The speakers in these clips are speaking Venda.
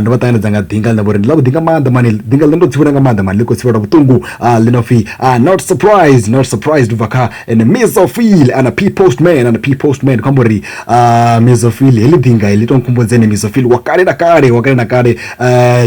Ndo vha ṱanganedza nga ḓinga ḽine vha uri ndi ḽavhuḓi nga maanḓa mani ḓinga ḽine ndo tsivhudza nga maanḓa mani ḽi khou thivhela vhuṱungu ḽi no pfhi not surprise not surprise ndi bva kha ene Mizo Phyll ana P postman ana P postman khou amba uri Mizo Phyll heḽi ḓinga heḽi to nkhumbudza ene Mizo Phyll wa kale na kale wa kale na kale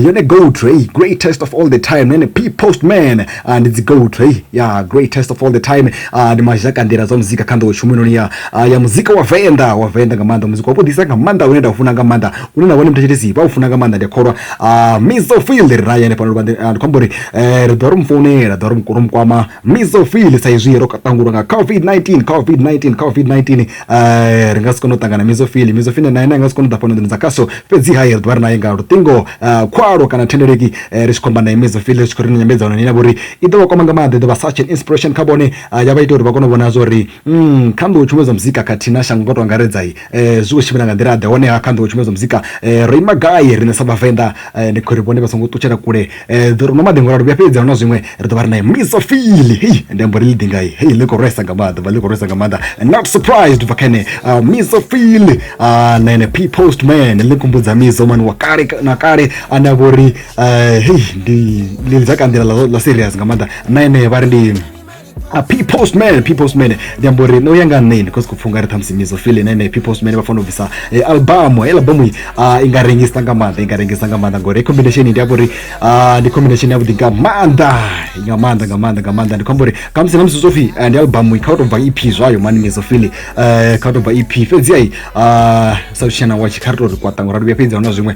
yone goat heyi greatest of all the time na ene P postman ndi dzi goat heyi ya greatest of all the time ndi mazhaka nḓila dza muzika kha nḓowetshumo heinoni ya ya muzika wa venḓa wa venḓa nga maanḓa muzika wa vhuḓisa nga maanḓa une nda u funa nga maanḓa lune na vhone muthetshelesi vha u funa nga maanḓa ndi a kholwa Ah, miso fil ri naye hanefha luvha ndi khou amba uri eh, ri ḓo ri mu founela ḓo ri mu- ri mu kwama miso fil sa izwi ro ṱangulwa nga covid-19 covid-19 covid-19 eh, ri nga si kone u ṱangana miso fil miso fil naye naye nga si kone u ḓa fhano nḓuni dza khaso fhedzi haye ri ḓo vha ri naye nga luṱingo ah, khwalwo kana thendeleki eh, ri tshi khou amba naye miso fil ri tshi khou ri na nyambedzano ni na vhori i ḓo vha kwama nga maanḓa i ḓo vha such an inspiration kha vhone ah, ya vha ita uri vha kone u vhona zwa uri Mm, kha nḓou tshumedzo muzika khathihi na shango nga to angaredza um eh, zwi khou tshimbila nga nḓila ḓe honeha kha nḓou tshumedzo muzika um ro ima gai riṋe sa vhavenḓa um ndi khori vhone vha songo ṱutshela kule um ḓo ri no maḓingo lalo vhuya fhedzi na zwiṅwe ri ḓo vha ri naye misa fili hei ndi ambo ri ḽi ḓingai hei ḽi khou rwesa nga maanḓa vha ḽi khou rwesa nga maanḓa not surprised ubva kha ene uh, misa fili uh, na ene p post man ḽi kumbudza mizo mani wa kale na kale ane a vho ri um hei ndi ḽi dza kanḓila ḽa serious nga maanḓa na ene vha ri ndi a p postman p postman ndi amba uri no ya nga nṋeni because kupfha ungari ṱhamusi mizo feel ine ene p postman vha fanela u bvisa eh, albamu hei albamu i ah, i nga rengisa nga maanḓa i nga rengisa nga maanḓa ngori combination ndi amba uri ah, ndi combination yavhuḓi nga maanḓa nga maanḓa nga maanḓa nga maanḓa ndi khou amba uri khamusi na musi zwo pfhi eh, ndi albamu i kha u tou bva ep zwayo mani mizo feel eh, kha u tou bva ep fhedzi ai ah, sa tshitshena watshi kha ri tou ri kwaṱa ngori ri vhuya fhedzi ahuna zwiṅwe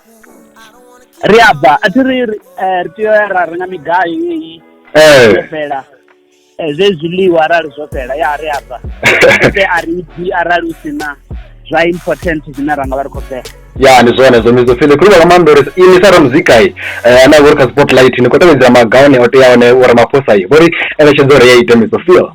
ri a bva a thi ri ri eh, tea ya ra renga migayo yeyi eh. yo fhela eh, zwe zwiḽiwa arali zwo fhela ya ri a bva e a ri bvi arali u si na zwa important zwine ra nga vha ri khou fhela ya ndi zwone zwo mizo fhele khuluvha nga maanḓa uri ini sa ramuzika i eh, ane a vhori kha spotlight ni khou tevhedzela magawani o teaho ne uri maphosa i vhori eletshedza uri ya ite mizo feel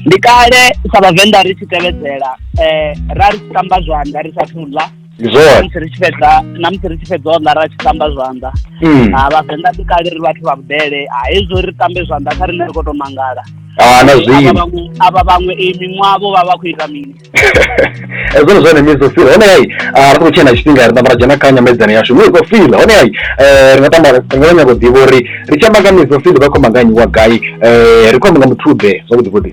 ndi kale sa vhavenḓa ri tshi tevhedzela um ra ri tamba zwanḓa ri sa thuḽa namusi ri tshi fhedza namusi ri tshi fhedza o ḽa ra tshi tamba zwanḓa hmm. ha vhavenḓa ḓi kale ri vhathu vha vhudele ha hezwo ri tambe zwanḓa kha riṋe ri khou tou mangala ana zwino avha vhaṅwe i miṅwavho vha vha khou ita mini hezwo ndi zwone miso fila hone hai ah, ri khou tshena tshifhinga ri ṱamba ra dzhena kha nyamedzano yashu miso fila hone hai eh, ri nga tamba ri nga nyago ḓivha uri ri tshi amba nga miso fila vha khou manganyiwa gai eh, ri khou amba nga muthuḓe zwavhuḓi vhuḓi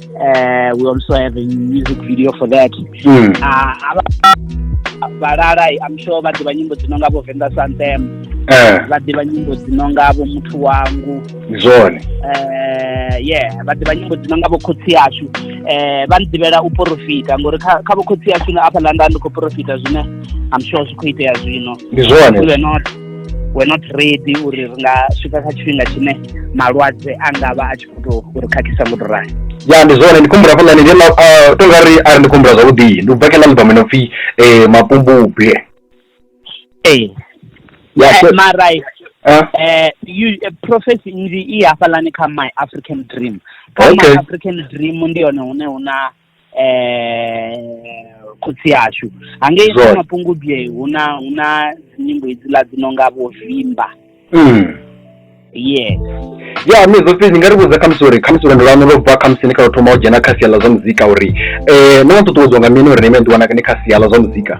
uh, we also have a music video for that mm. uh, vhalala i'm sure vha ḓivha nyimbo dzi no nga vho venḓa santem eh. vha ḓivha nyimbo dzi no nga vho muthu wangu zwone eh, ye vha ḓivha nyimbo dzi no nga vho khotsi yashu um vha nḓivhela u porofita ngori kha vho khotsi yashu na afha landa ndi khou porofita zwine i'm sure zwi khou itea zwino ndi zwone we're not ready uri ri nga swika kha tshifhinga tshine malwadze a nga vha a tshi uri khakhisa muthu rali ya ndi zwone ndi khumbula fhaḽani ndi ah, to nga ri a ri ndi khumbula zwavhuḓi ndi u bva kena album ino pfhi um eh, mapumbubwe ee eh, marai um eh, prophecy nnzhi i hafhaḽani kha my african dream kha my african dream ndi hone hune hu na eh khotsi ashu hangei Zwone. kha mapungubye hu na hu na nyimbo idziḽa dzi no nga vho vimba Mm. yes ya mi zofii ni nga ri vhudza khamusi uri khamusi lwendo lwanu lwo bva khamusi ni kha lwo thoma u dzhena kha sia ḽa zwa muzika uri um no ṱuṱuwedzwa nga mini uri ni vhe ni ḓiwana ni kha sia ḽa zwa muzika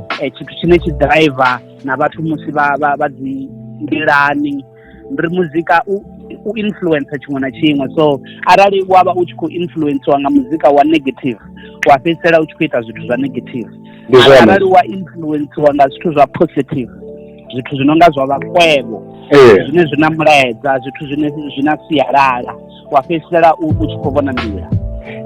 eh, tshithu tshine tshi driver na vhathu musi vha vha vha dzi nḓilani ndi muzika u u influencer tshiṅwe na tshiṅwe so arali wa vha u tshi khou influencewa nga muzika wa negative wa fhedzisela u tshi khou ita zwithu zwa negative arali wa influencewa nga zwithu zwa positive zwithu zwi no nga zwa vhakwevho eh. zwine zwi na mulaedza zwithu zwine zwi na sialala wa fhedzisela u tshi khou vhona nḓila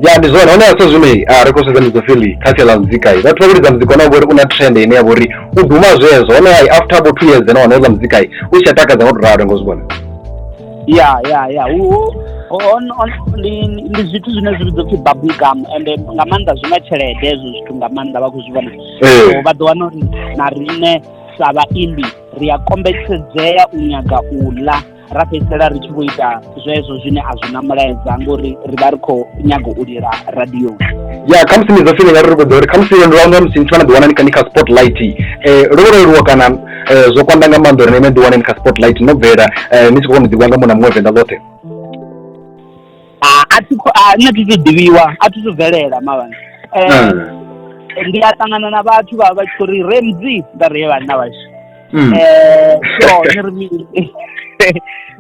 ya ndi zwone hone hasa zwino a ri khou sedza midzo fili kha sia ḽa muzika i vhathu vha vhulidza muzika ona vhori u na trend ine ya vhori u duma zwezwo hone i after bo two years nahone houḽa muzika i u tshi a takadza nga u ralo ngo zwi vhona ya ya ya ndi zwithu zwine zwi vhidzwa pfhi bubble gum and nga maanḓa zwi na tshelede hezwo zwithu nga maanḓa vha khou zwi vhona so vha ḓo wana uri na riṋe sa vhaimbi ri a kombetshedzea u nyaga u ḽa ra fhedzisela ri tshi vho ita zwezwo zwine a zwi na mulaedza ngori ri vha ri khou nyaga u lila radioni ya khamusi ni ḓo feeling ari ri khou ḓa uri khamusi lwendo lwa nga musi ni tshi vha na ḓiwana ni kha ni kha spotlight um lwo vho leluwa kana eh, zwo kwanda nga maanḓa uri na ime ḓiwane ni kha spotlight no bvela eh, ni tshi khou kona u ḓivhiwa nga muṅwe na muṅwe venḓa ḽoṱhe Ah, a thi kho- ah, nṋe thi thu ḓivhiwa a thi thu bvelela mavhana Eh, Mm. ndi a ṱangana na vhathu vha vha tshi khou ri remzi nda ri he vhanna vhashu Mm. Eh, so ni ri mini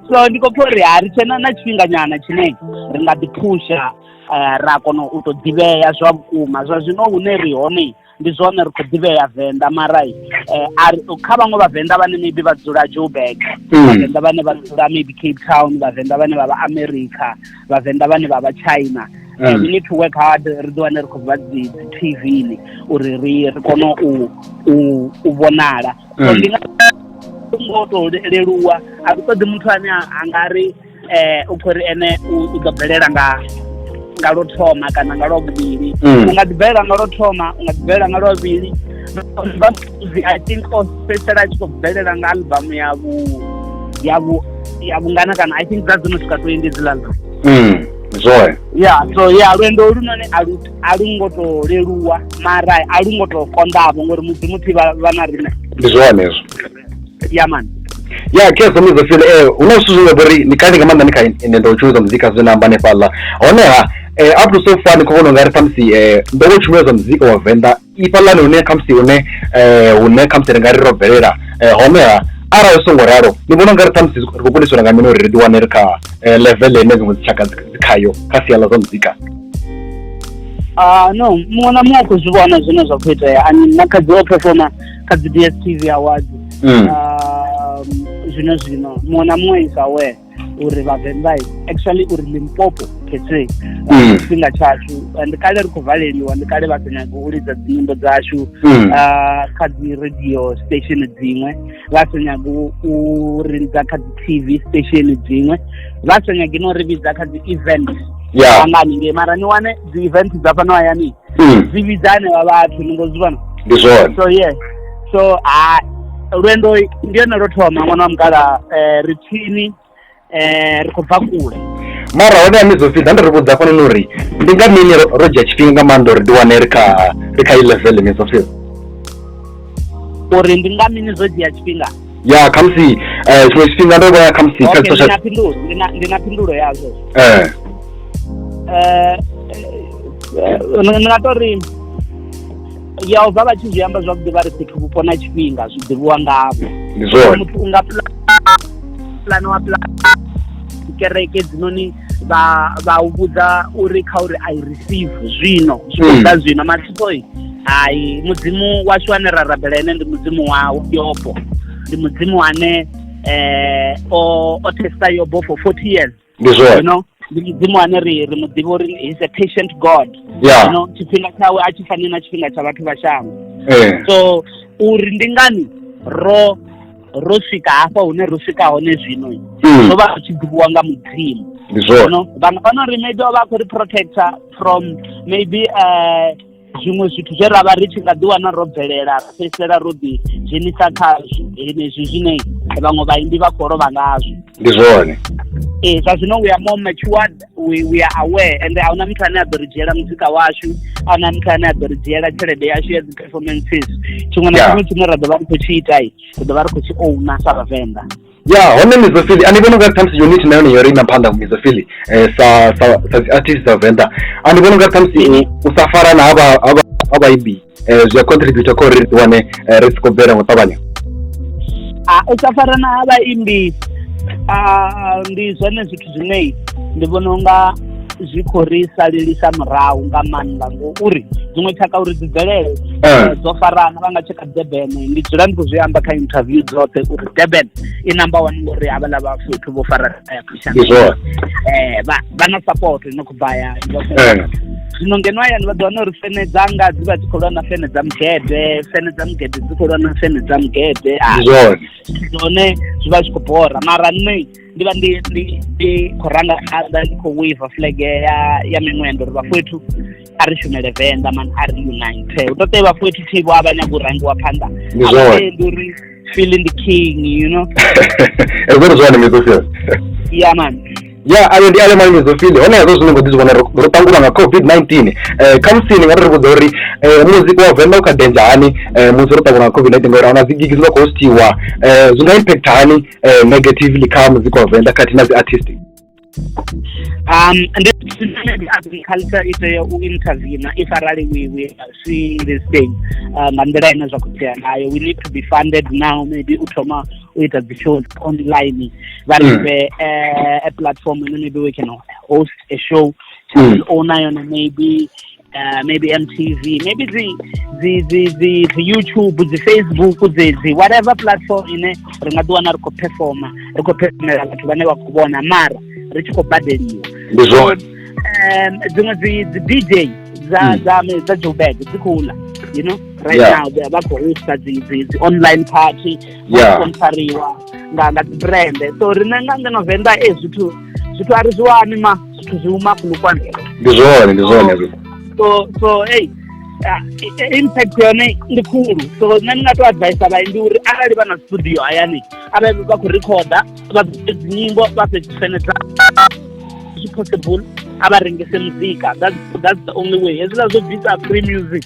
so ndi khou pfha uri ha ri tshena na tshifhinganyana tshine ri nga ḓi phusha eh, ra kona u tou ḓivhea zwa vhukuma zwa zwino hune ri hone ndi zwone ri khou ḓivhea venḓa mara eh, ari kha vhaṅwe vhavenḓa vhane maybe vha dzula joburg hmm. vhavenḓa vhane vha dzula maybe cape town vhavenḓa vhane vha vha america vhavenḓa vhane vha vha china hmm. eh, we need to work hard ri ḓi wane ri khou vha dzi tv ni uri ri ri kone u u vhonala hmm. ndi nga ngo to leluwa a ri ṱoḓi muthu ane a nga ri eh u khori ene u ḓo bvelela nga nga lo thoma kana nga lwa vhuvhili mm. u nga ḓi bvelela nga lwa thoma u nga ḓi bvelela nga lwa vhuvhili i think o fhedzisela a tshi khou bvelela nga album ya vhu ya vhu ya vhungana kana i think dza dzo no swika twenty dzi lala mm, zwone ya so ya lwendo lu none a lu a lu ngo to leluwa mara a lu ngo to konḓavho ngori mudzimu thi vha na riṋe ndi zwone hezwo ya man ya khe so mizo feel eh una zwithu zwine vha ri ni kale nga maanḓa ni kha ende ndo tshumelo dza muzika zwine na amba hanefhaḽa honeha eh up to so far ni khou vhona ungari khamusi eh ndo vho tshumelo dza muzika wa venḓa ifhaḽani hune khamusi hune eh hune khamusi ri nga ri ro bvelela eh honeha arali zwi songo ralo ni vhona ungari khamusi ri khou kundiswa nga mini uri ri ḓi wane ri kha eh, level ine dziṅwe dzitshaka dzi dzi khayo kha sia ḽa zwa muzika ah no muṅwe na muṅwe u khou zwi vhona zwine zwa khou itea ani na kha dzi o performa kha dzi dstv awards mm. um, zwino zwino muṅwe na muṅwe is aware uri vhavenḓa actually uri limpopo pese uh, mm. tshifhinga tshashu uh, ndi kale ri khou valeliwa ndi kale vha sa nyagi u lidza dzinyimbo dzashu mm. uh, kha dzi radio station dziṅwe vha sa nyagi u rilidza kha dzi tv station dziṅwe vha sa nyagi no ri vhidza kha dzi event angani ngei mara ni wane dzi event dza fhano hayani mm. zwi vhidza anevha vhathu ni ngo zwi vhona ndi zwone so yeah so ha lwendo ndi yone lwo thoma ṅwana wa mukala um eh, ri tsini um eh, ri khou bva kule mara hone ya mizopfi da ndi ri vhudza fhano ni uri ndi nga mini ro dzhia tshifhinga nga maanḓa uri ndi wane ri kha ri kha i level mizopfi uri ndi nga mini zwo dzhia tshifhinga ya khamusi eh, tshiṅwe tshifhinga ndo vhoya khamusi kha ndi na phindulo ndi na phindulo yazwo eh eh, eh ndi nga to ri ya u vha vha tshi zwi amba zwavhuḓi vha ri fhethu vhupo na tshifhinga zwi ḓivhiwa ngavho ndi zwone muthu u nga pulana wa pulana kereke dzinoni vha vha u vhudza uri kha uri i receive zwino zwi khou ḓa zwino mathipoi hai mudzimu washu ane ra rabela ene ndi mudzimu wa yobo ndi mudzimu ane eh o o testa yobo for 40 years ndi you zwone know ndi mudzimu ane ri ri muḓivha uri he's a patient god you ya know tshifhinga tshawe a tshi fani na tshifhinga tsha vhathu vha shango eh so uri ndi ngani ro ro swika hafha hune ro swika hone zwino hmm. zwo vha zwi tshi ḓivhiwa nga mudzimu ndi zwone vhaṅwe vha no ri maybe o vha a khou ri protector from maybe eh, zwiṅwe zwithu zwe ra vha ri tshi nga ḓi wana ro bvelela ra fhedzisela ro ḓi dzhenisa khazwo henezwi zwine vhaṅwe vhaimbi vha khou lovha ngazwo ndi zwone ee zwa zwino we are more matured we, we are aware and a huna muthu ane a ḓo ri dzhiela muzika washu a huna muthu ane a ḓo ri dzhiela tshelede yashu ya dzi-performances tshiṅwe na tshiṅwe tshine ra ḓo vha ri khou tshi itai ri ḓo vha ri khou tshi ouna sa vhavenḓa ya hone mizofili a ni vhona unga ṱhamusi unit na yone yo ri na phanḓa mizofili eh, sa sa sa dzi artist dza venḓa a ni vhona unga ṱhamusi u sa farana ha vha ha vha ha vhaibi zwi a contributor kha uri ri ḓi wane ri si khou bvela ngo ṱavhanya u sa fara na vhaimbi ndi zwone zwithu zwine ndi vhona unga zwi khou ri salelisa murahu nga maanḓa ngouri dziṅwe tshaka uri dzi bvelele dzo farana vha nga tsheka durban ndi dzula ndi khou zwi amba kha interview dzoṱhe uri durban i number one ngori havhaḽa vha fhethu vho fara ndi zwone eh vha vha na support ino khou bva ya zwino ngeno hayani vha ḓo wana uri fene dza nga dzi vha dzi khou lwa na fene dza mugede fene dza mugede dzi khou lwa na fene dza mugede ah, zwone zwi vha zwi khou bora mara nṋe ndi vha ndi ndi ndi khou ranga phanḓa ndi khou waiva flege ya ya miṅwenda uri vhafowethu a ri shumele venḓa man a ri unite hu ṱoḓe vha fothi thi vho a vha nyaga u rangiwa phanḓa ndi uri feeling the king you know ezwo ri zwone mizofia ya man ya ayo ndi alemani mizofile hone hezwo zwine ngo ḓi zwi vhona ro ṱangulwa nga covid-19 um eh, khamusi ni nga ri ri vhudza uri eh, muzika wa venḓa u kha denja hani eh, musi ro ṱangulwa nga covid-19 ngauri ahuna dzigigi dzi vha khou hostiwa zwi nga impact hani negatively kha muzika wa venḓa khathihi na dzi artistic um ndi Senate agriculture i tea u intervene if arali we we see this thing uh, nga nḓila ine zwa khou tea nayo we need to be funded now maybe u thoma u ita dzi show online vha ri fhe hmm. eh, a platform ine maybe we can host a show channel hmm. owner yone maybe uh, maybe mtv maybe dzi dzi dzi dzi dzi youtube dzi facebook dzedzi whatever platform ine ri nga ḓi wana ri khou performa ri khou performela vhathu vhane vha khou vhona mara ri tshi khou badeliwa ndi zwone um dziṅwe dzi dzi dj dza hmm. dza dza joburg dzi khou ḽa you know right yeah. now vha khou hosta dzi dzi dzi online party vha yeah. sponsoriwa nga nga dzi brand so riṋe nga ngeno venḓa e zwithu zwithu a ri zwi wani ma zwithu zwi uma kulukwana ndi zwone ndi zwone so so hey ah, impact yone ndi khulu so nṋe ndi nga to advisa vhayi ndi uri arali vha na studio hayani arali vha khou rikhoda vha bvise dzinyimbo vha fhe dzisenedza zwi possible a vha rengese muzika that's, that's the only way hezwiḽa zwo bvisa free music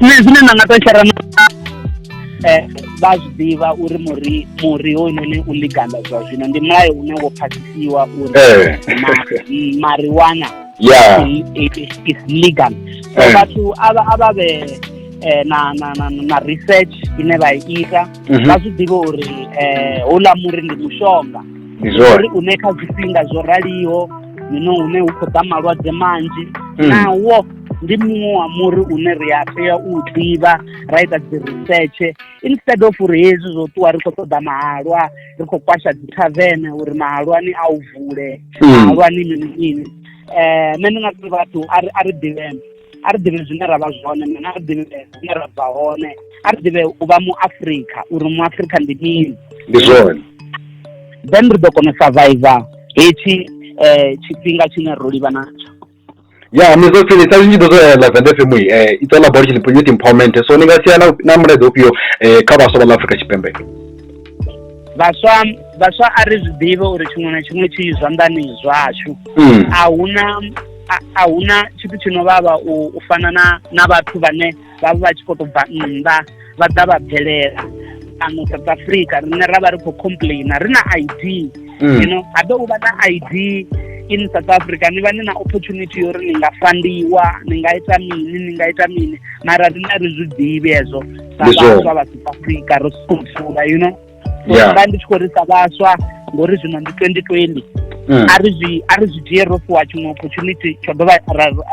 nṋe zwine nda nga to shera na eh, vha zwi ḓivha uri muri muri hoyunoni u liganda zwa zwino ndi mulayo une wo phasisiwa uri eh. mariwana yeah. is legal so eh. vhathu a vha vhe eh, na na na na research ine vha ita mhm. vha zwi ḓivhe uri eh houḽa muri ndi mushonga uri une kha zwifhinga zwo raliho zwino hune hu khou ḓa malwadze manzhi mm. nawo ndi muṅwe wa muri une ri a tea u ḓivha ra ita dzi research instead of uri hezwi zwo ṱuwa ri khou ṱoḓa mahalwa ri khou kwasha dzi tavene uri mahalwani a u vule hmm. mahalwani mini mini um nṋe ndi nga tori vhathu a ri ḓivheme a ri ḓivhe zwine ra vha zwone mene a ri ḓivhe hune ra bva hone a ri ḓivhe u vha mu afrika uri mu afrika ndi mini ndi zwone then ri ḓo kona u survivor hetshi um tshifhinga tshine ro livha natsho ya mizofhili sa zwinzhi ḓo zwa live and fm eh it's all about youth empowerment so ni nga sia na mulaedza ufhio eh kha vhaswa vha ḽa Afrika Tshipembe vhaswa vhaswa a ri zwi ḓivhe uri tshiṅwe na tshiṅwe tshi zwanḓani zwashu hmm. a huna a huna tshithu tshi no vhavha u fana na na vhathu vhane vha vha tshi khou tou bva nnḓa vha ḓa vha bvelela fhano south africa rine ra vha ri khou complaina ri na i d mm. ino ha ḓo u vha na i d in south africa ni vha ni na opportunity yo ri ni nga fandiwa ni nga ita mini ni nga ita mini mara rine ri zwi ḓivhi hezwo sa vhaswa vha south africa ro sokoula you know vha ndi tshi khou risa vhaswa ngori zwino ndi twenty twenty mm. a ri zwi a ri zwi dzhie ro fhiwa tshiṅwe opportunity tsho dovha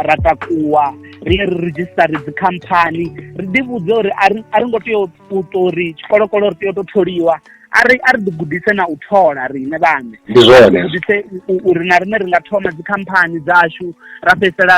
ra takuwa ri ye ri redzhisitare dzikhamphani ri ḓi vhudze uri a ri ngo tea u ṱori tshikolokolo ri tea u tou tholiwa a ri a ri ḓi gudise na u thola riṋe vhaṋe ndi zwone gudise uri na riṋe ri nga thoma dzikhamphani dzashu ra fhedzisela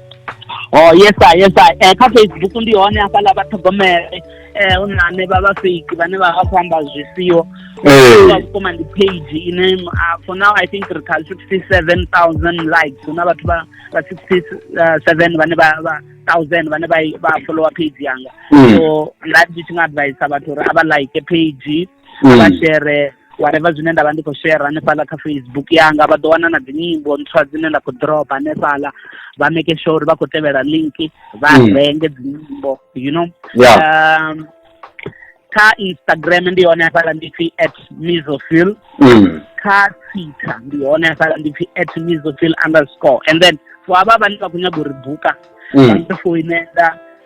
oh yes sir yes sir eh, kha facebook ndi hone hafhaḽa vha ṱhogomele eh hu na ane vha vha fake vhane vha vha khou amba zwi siho vha vhukuma ndi page ine uh, for now i think ri kha 67000 likes hu na vhathu vha vha 67 vhane vha vha thousand vhane vha vha follower page yanga hmm. so nda ndi tshi nga advise vhathu uri a vha like page a vha mm. shere whatever zwine nda vha ndi khou share hanefhaḽa kha facebook yanga vha ḓo wana na dzinyimbo ntswa dzine nda khou drop hanefhaḽa vha make sure uri vha khou tevhela link vha mm. renge dzinyimbo you know um, kha instagram ndi hone hafhaḽa ndi pfi at misofil mm. kha twitter ndi hone hafhaḽa ndi pfi at misofil underscore and then for avha vhane vha khou nyaga uri buka mm. vha ḓo foinela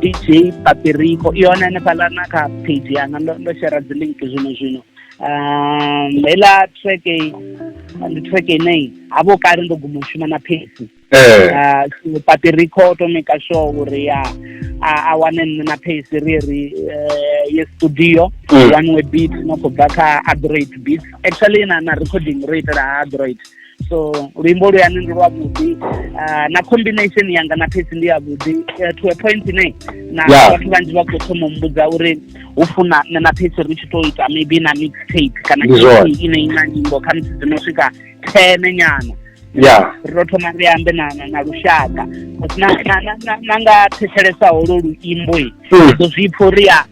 dj pateriko i hone hanefhaḽa na kha page yanga ndo ndo shera dzi link zwino zwino um heiḽa track ndi track ine havho kale ndo guma u shuma na phesi ah, so pateriko o to maker sure uri a a wane nṋe na phesi ri ri eh, ye studio mm. one way beat no khou bva kha adroid beat actually na na recording ro itela ha adroid so luimbo luyani ndi lwavhuḓi ah, na combination yanga na phesi ndi yavhuḓi eh, to a point ine na vhathu vhanzhi vha khou thoma mbudza uri hu funa nṋe na phesi ri tshi to ita maybe na mix tape kana ine ina nyimbo kha musi dzino swika thene nyana ya ri to thoma ri ambe na na lushaka na nga thetshelesa holo luimbo i hmm. ḓo zwi pfha uri ya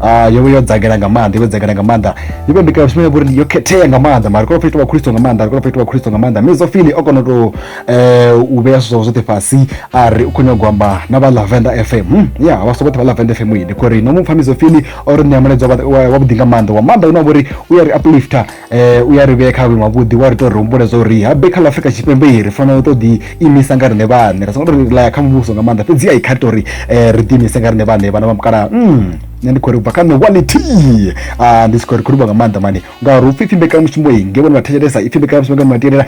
Ah, yo vha yo dzagela nga maanḓa yo vha dzagela nga maanḓa yo vha mbikela tshumelo ngori yo khethea nga maanḓa mara kona fhethu wa khristo nga maanḓa kona fhethu wa khristo nga maanḓa mme zofili o kona u tou eh, u vhea zwithu zwawe zwoṱhe fhasi a ri u khou nyagwa amba na vha lavenda fm Hmm, ya vha sokoṱhe vha lavenda fm yi ndi khou ri no mu pfha mizofili o ri ṋea mulaedza wa- wa- wavhuḓi nga maanḓa wa maanḓa une wa vha uri u ya ri uplifter u ya ri vhea kha vhuimo havhuḓi wa ri ita uri ri humbule zwa uri habe kha ḽa Afrika Tshipembe ri fanela u tou ḓi imisa nga riṋe vhaṋe ra songo tou laya kha muvhuso nga maanḓa fhedzi a i kha ri tou ri ri ḓi imise nga riṋe vhaṋe vhana vha mukalaha nṋe ndi khou ri bva kha nṋe one tea a ndi si khou ri khou livha nga maanḓa mani ngauri upfhi ipfhi mbekanyamushumo i nge vhone vha thetshelesa ipfhi mbekanyamushumo ngeno vha tevhelela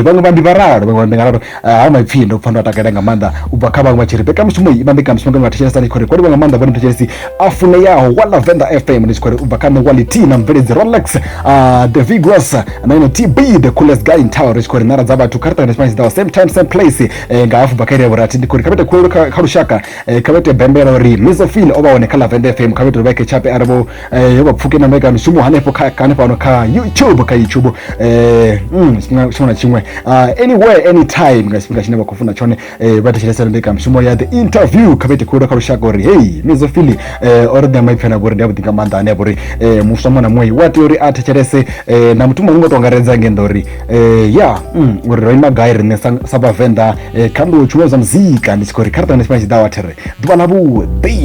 vhaṅwe vha ndi vha ralo vhaṅwe vha ndi nga ralo ha maipfi ndo pfa ndo takalela nga maanḓa u bva kha vhaṅwe vha tshi ri mbekanyamushumo i vha mbekanyamushumo ngeno vhathetshelesa ni tshi khou ri kwaliwa nga maanḓa vhone thetshelesi a funeyaho wa lavenda fm ni tshi khou ri u bva kha nṋe wality na mubveledzi rolex ah, the vigros na ino tb the coolest guy in town ri tshi khou ri nara dza vhathu kha ri ṱangane tshifhinga tshiḓaho same time same place eh, nga hafu bva kha iri ya vhurathi ndi khou ri kha vhete khulelo kha kha lushaka eh, kha vhete bembela uri mizofil o vha hone kha lavenda fm kha vhete uri vha khe tshape ari vho eh vha pfuke na mbekano shumo hanefho kha kha fhano kha YouTube kha YouTube eh mm singa shona chimwe uh, ah, anywhere anytime nga sifika chine vha khou funa chone eh vha thetshelesa mbekano shumo ya the interview kha vete khulu kha lushaka uri hey mizo fili eh ori da mai phana bori ndi vhuḓinga manda ane bori eh muswa mwana mwe wa tea uri a thetshelese eh na mutumo ngo tongaredza ngenda uri eh ya mm uri ro ima gai rine sa ba venda eh kha ndo chumwe za muzika ndi tshi khou ri kha ri tangana tshifhinga tshiḓawa there ḓuvha ḽa vhuḓi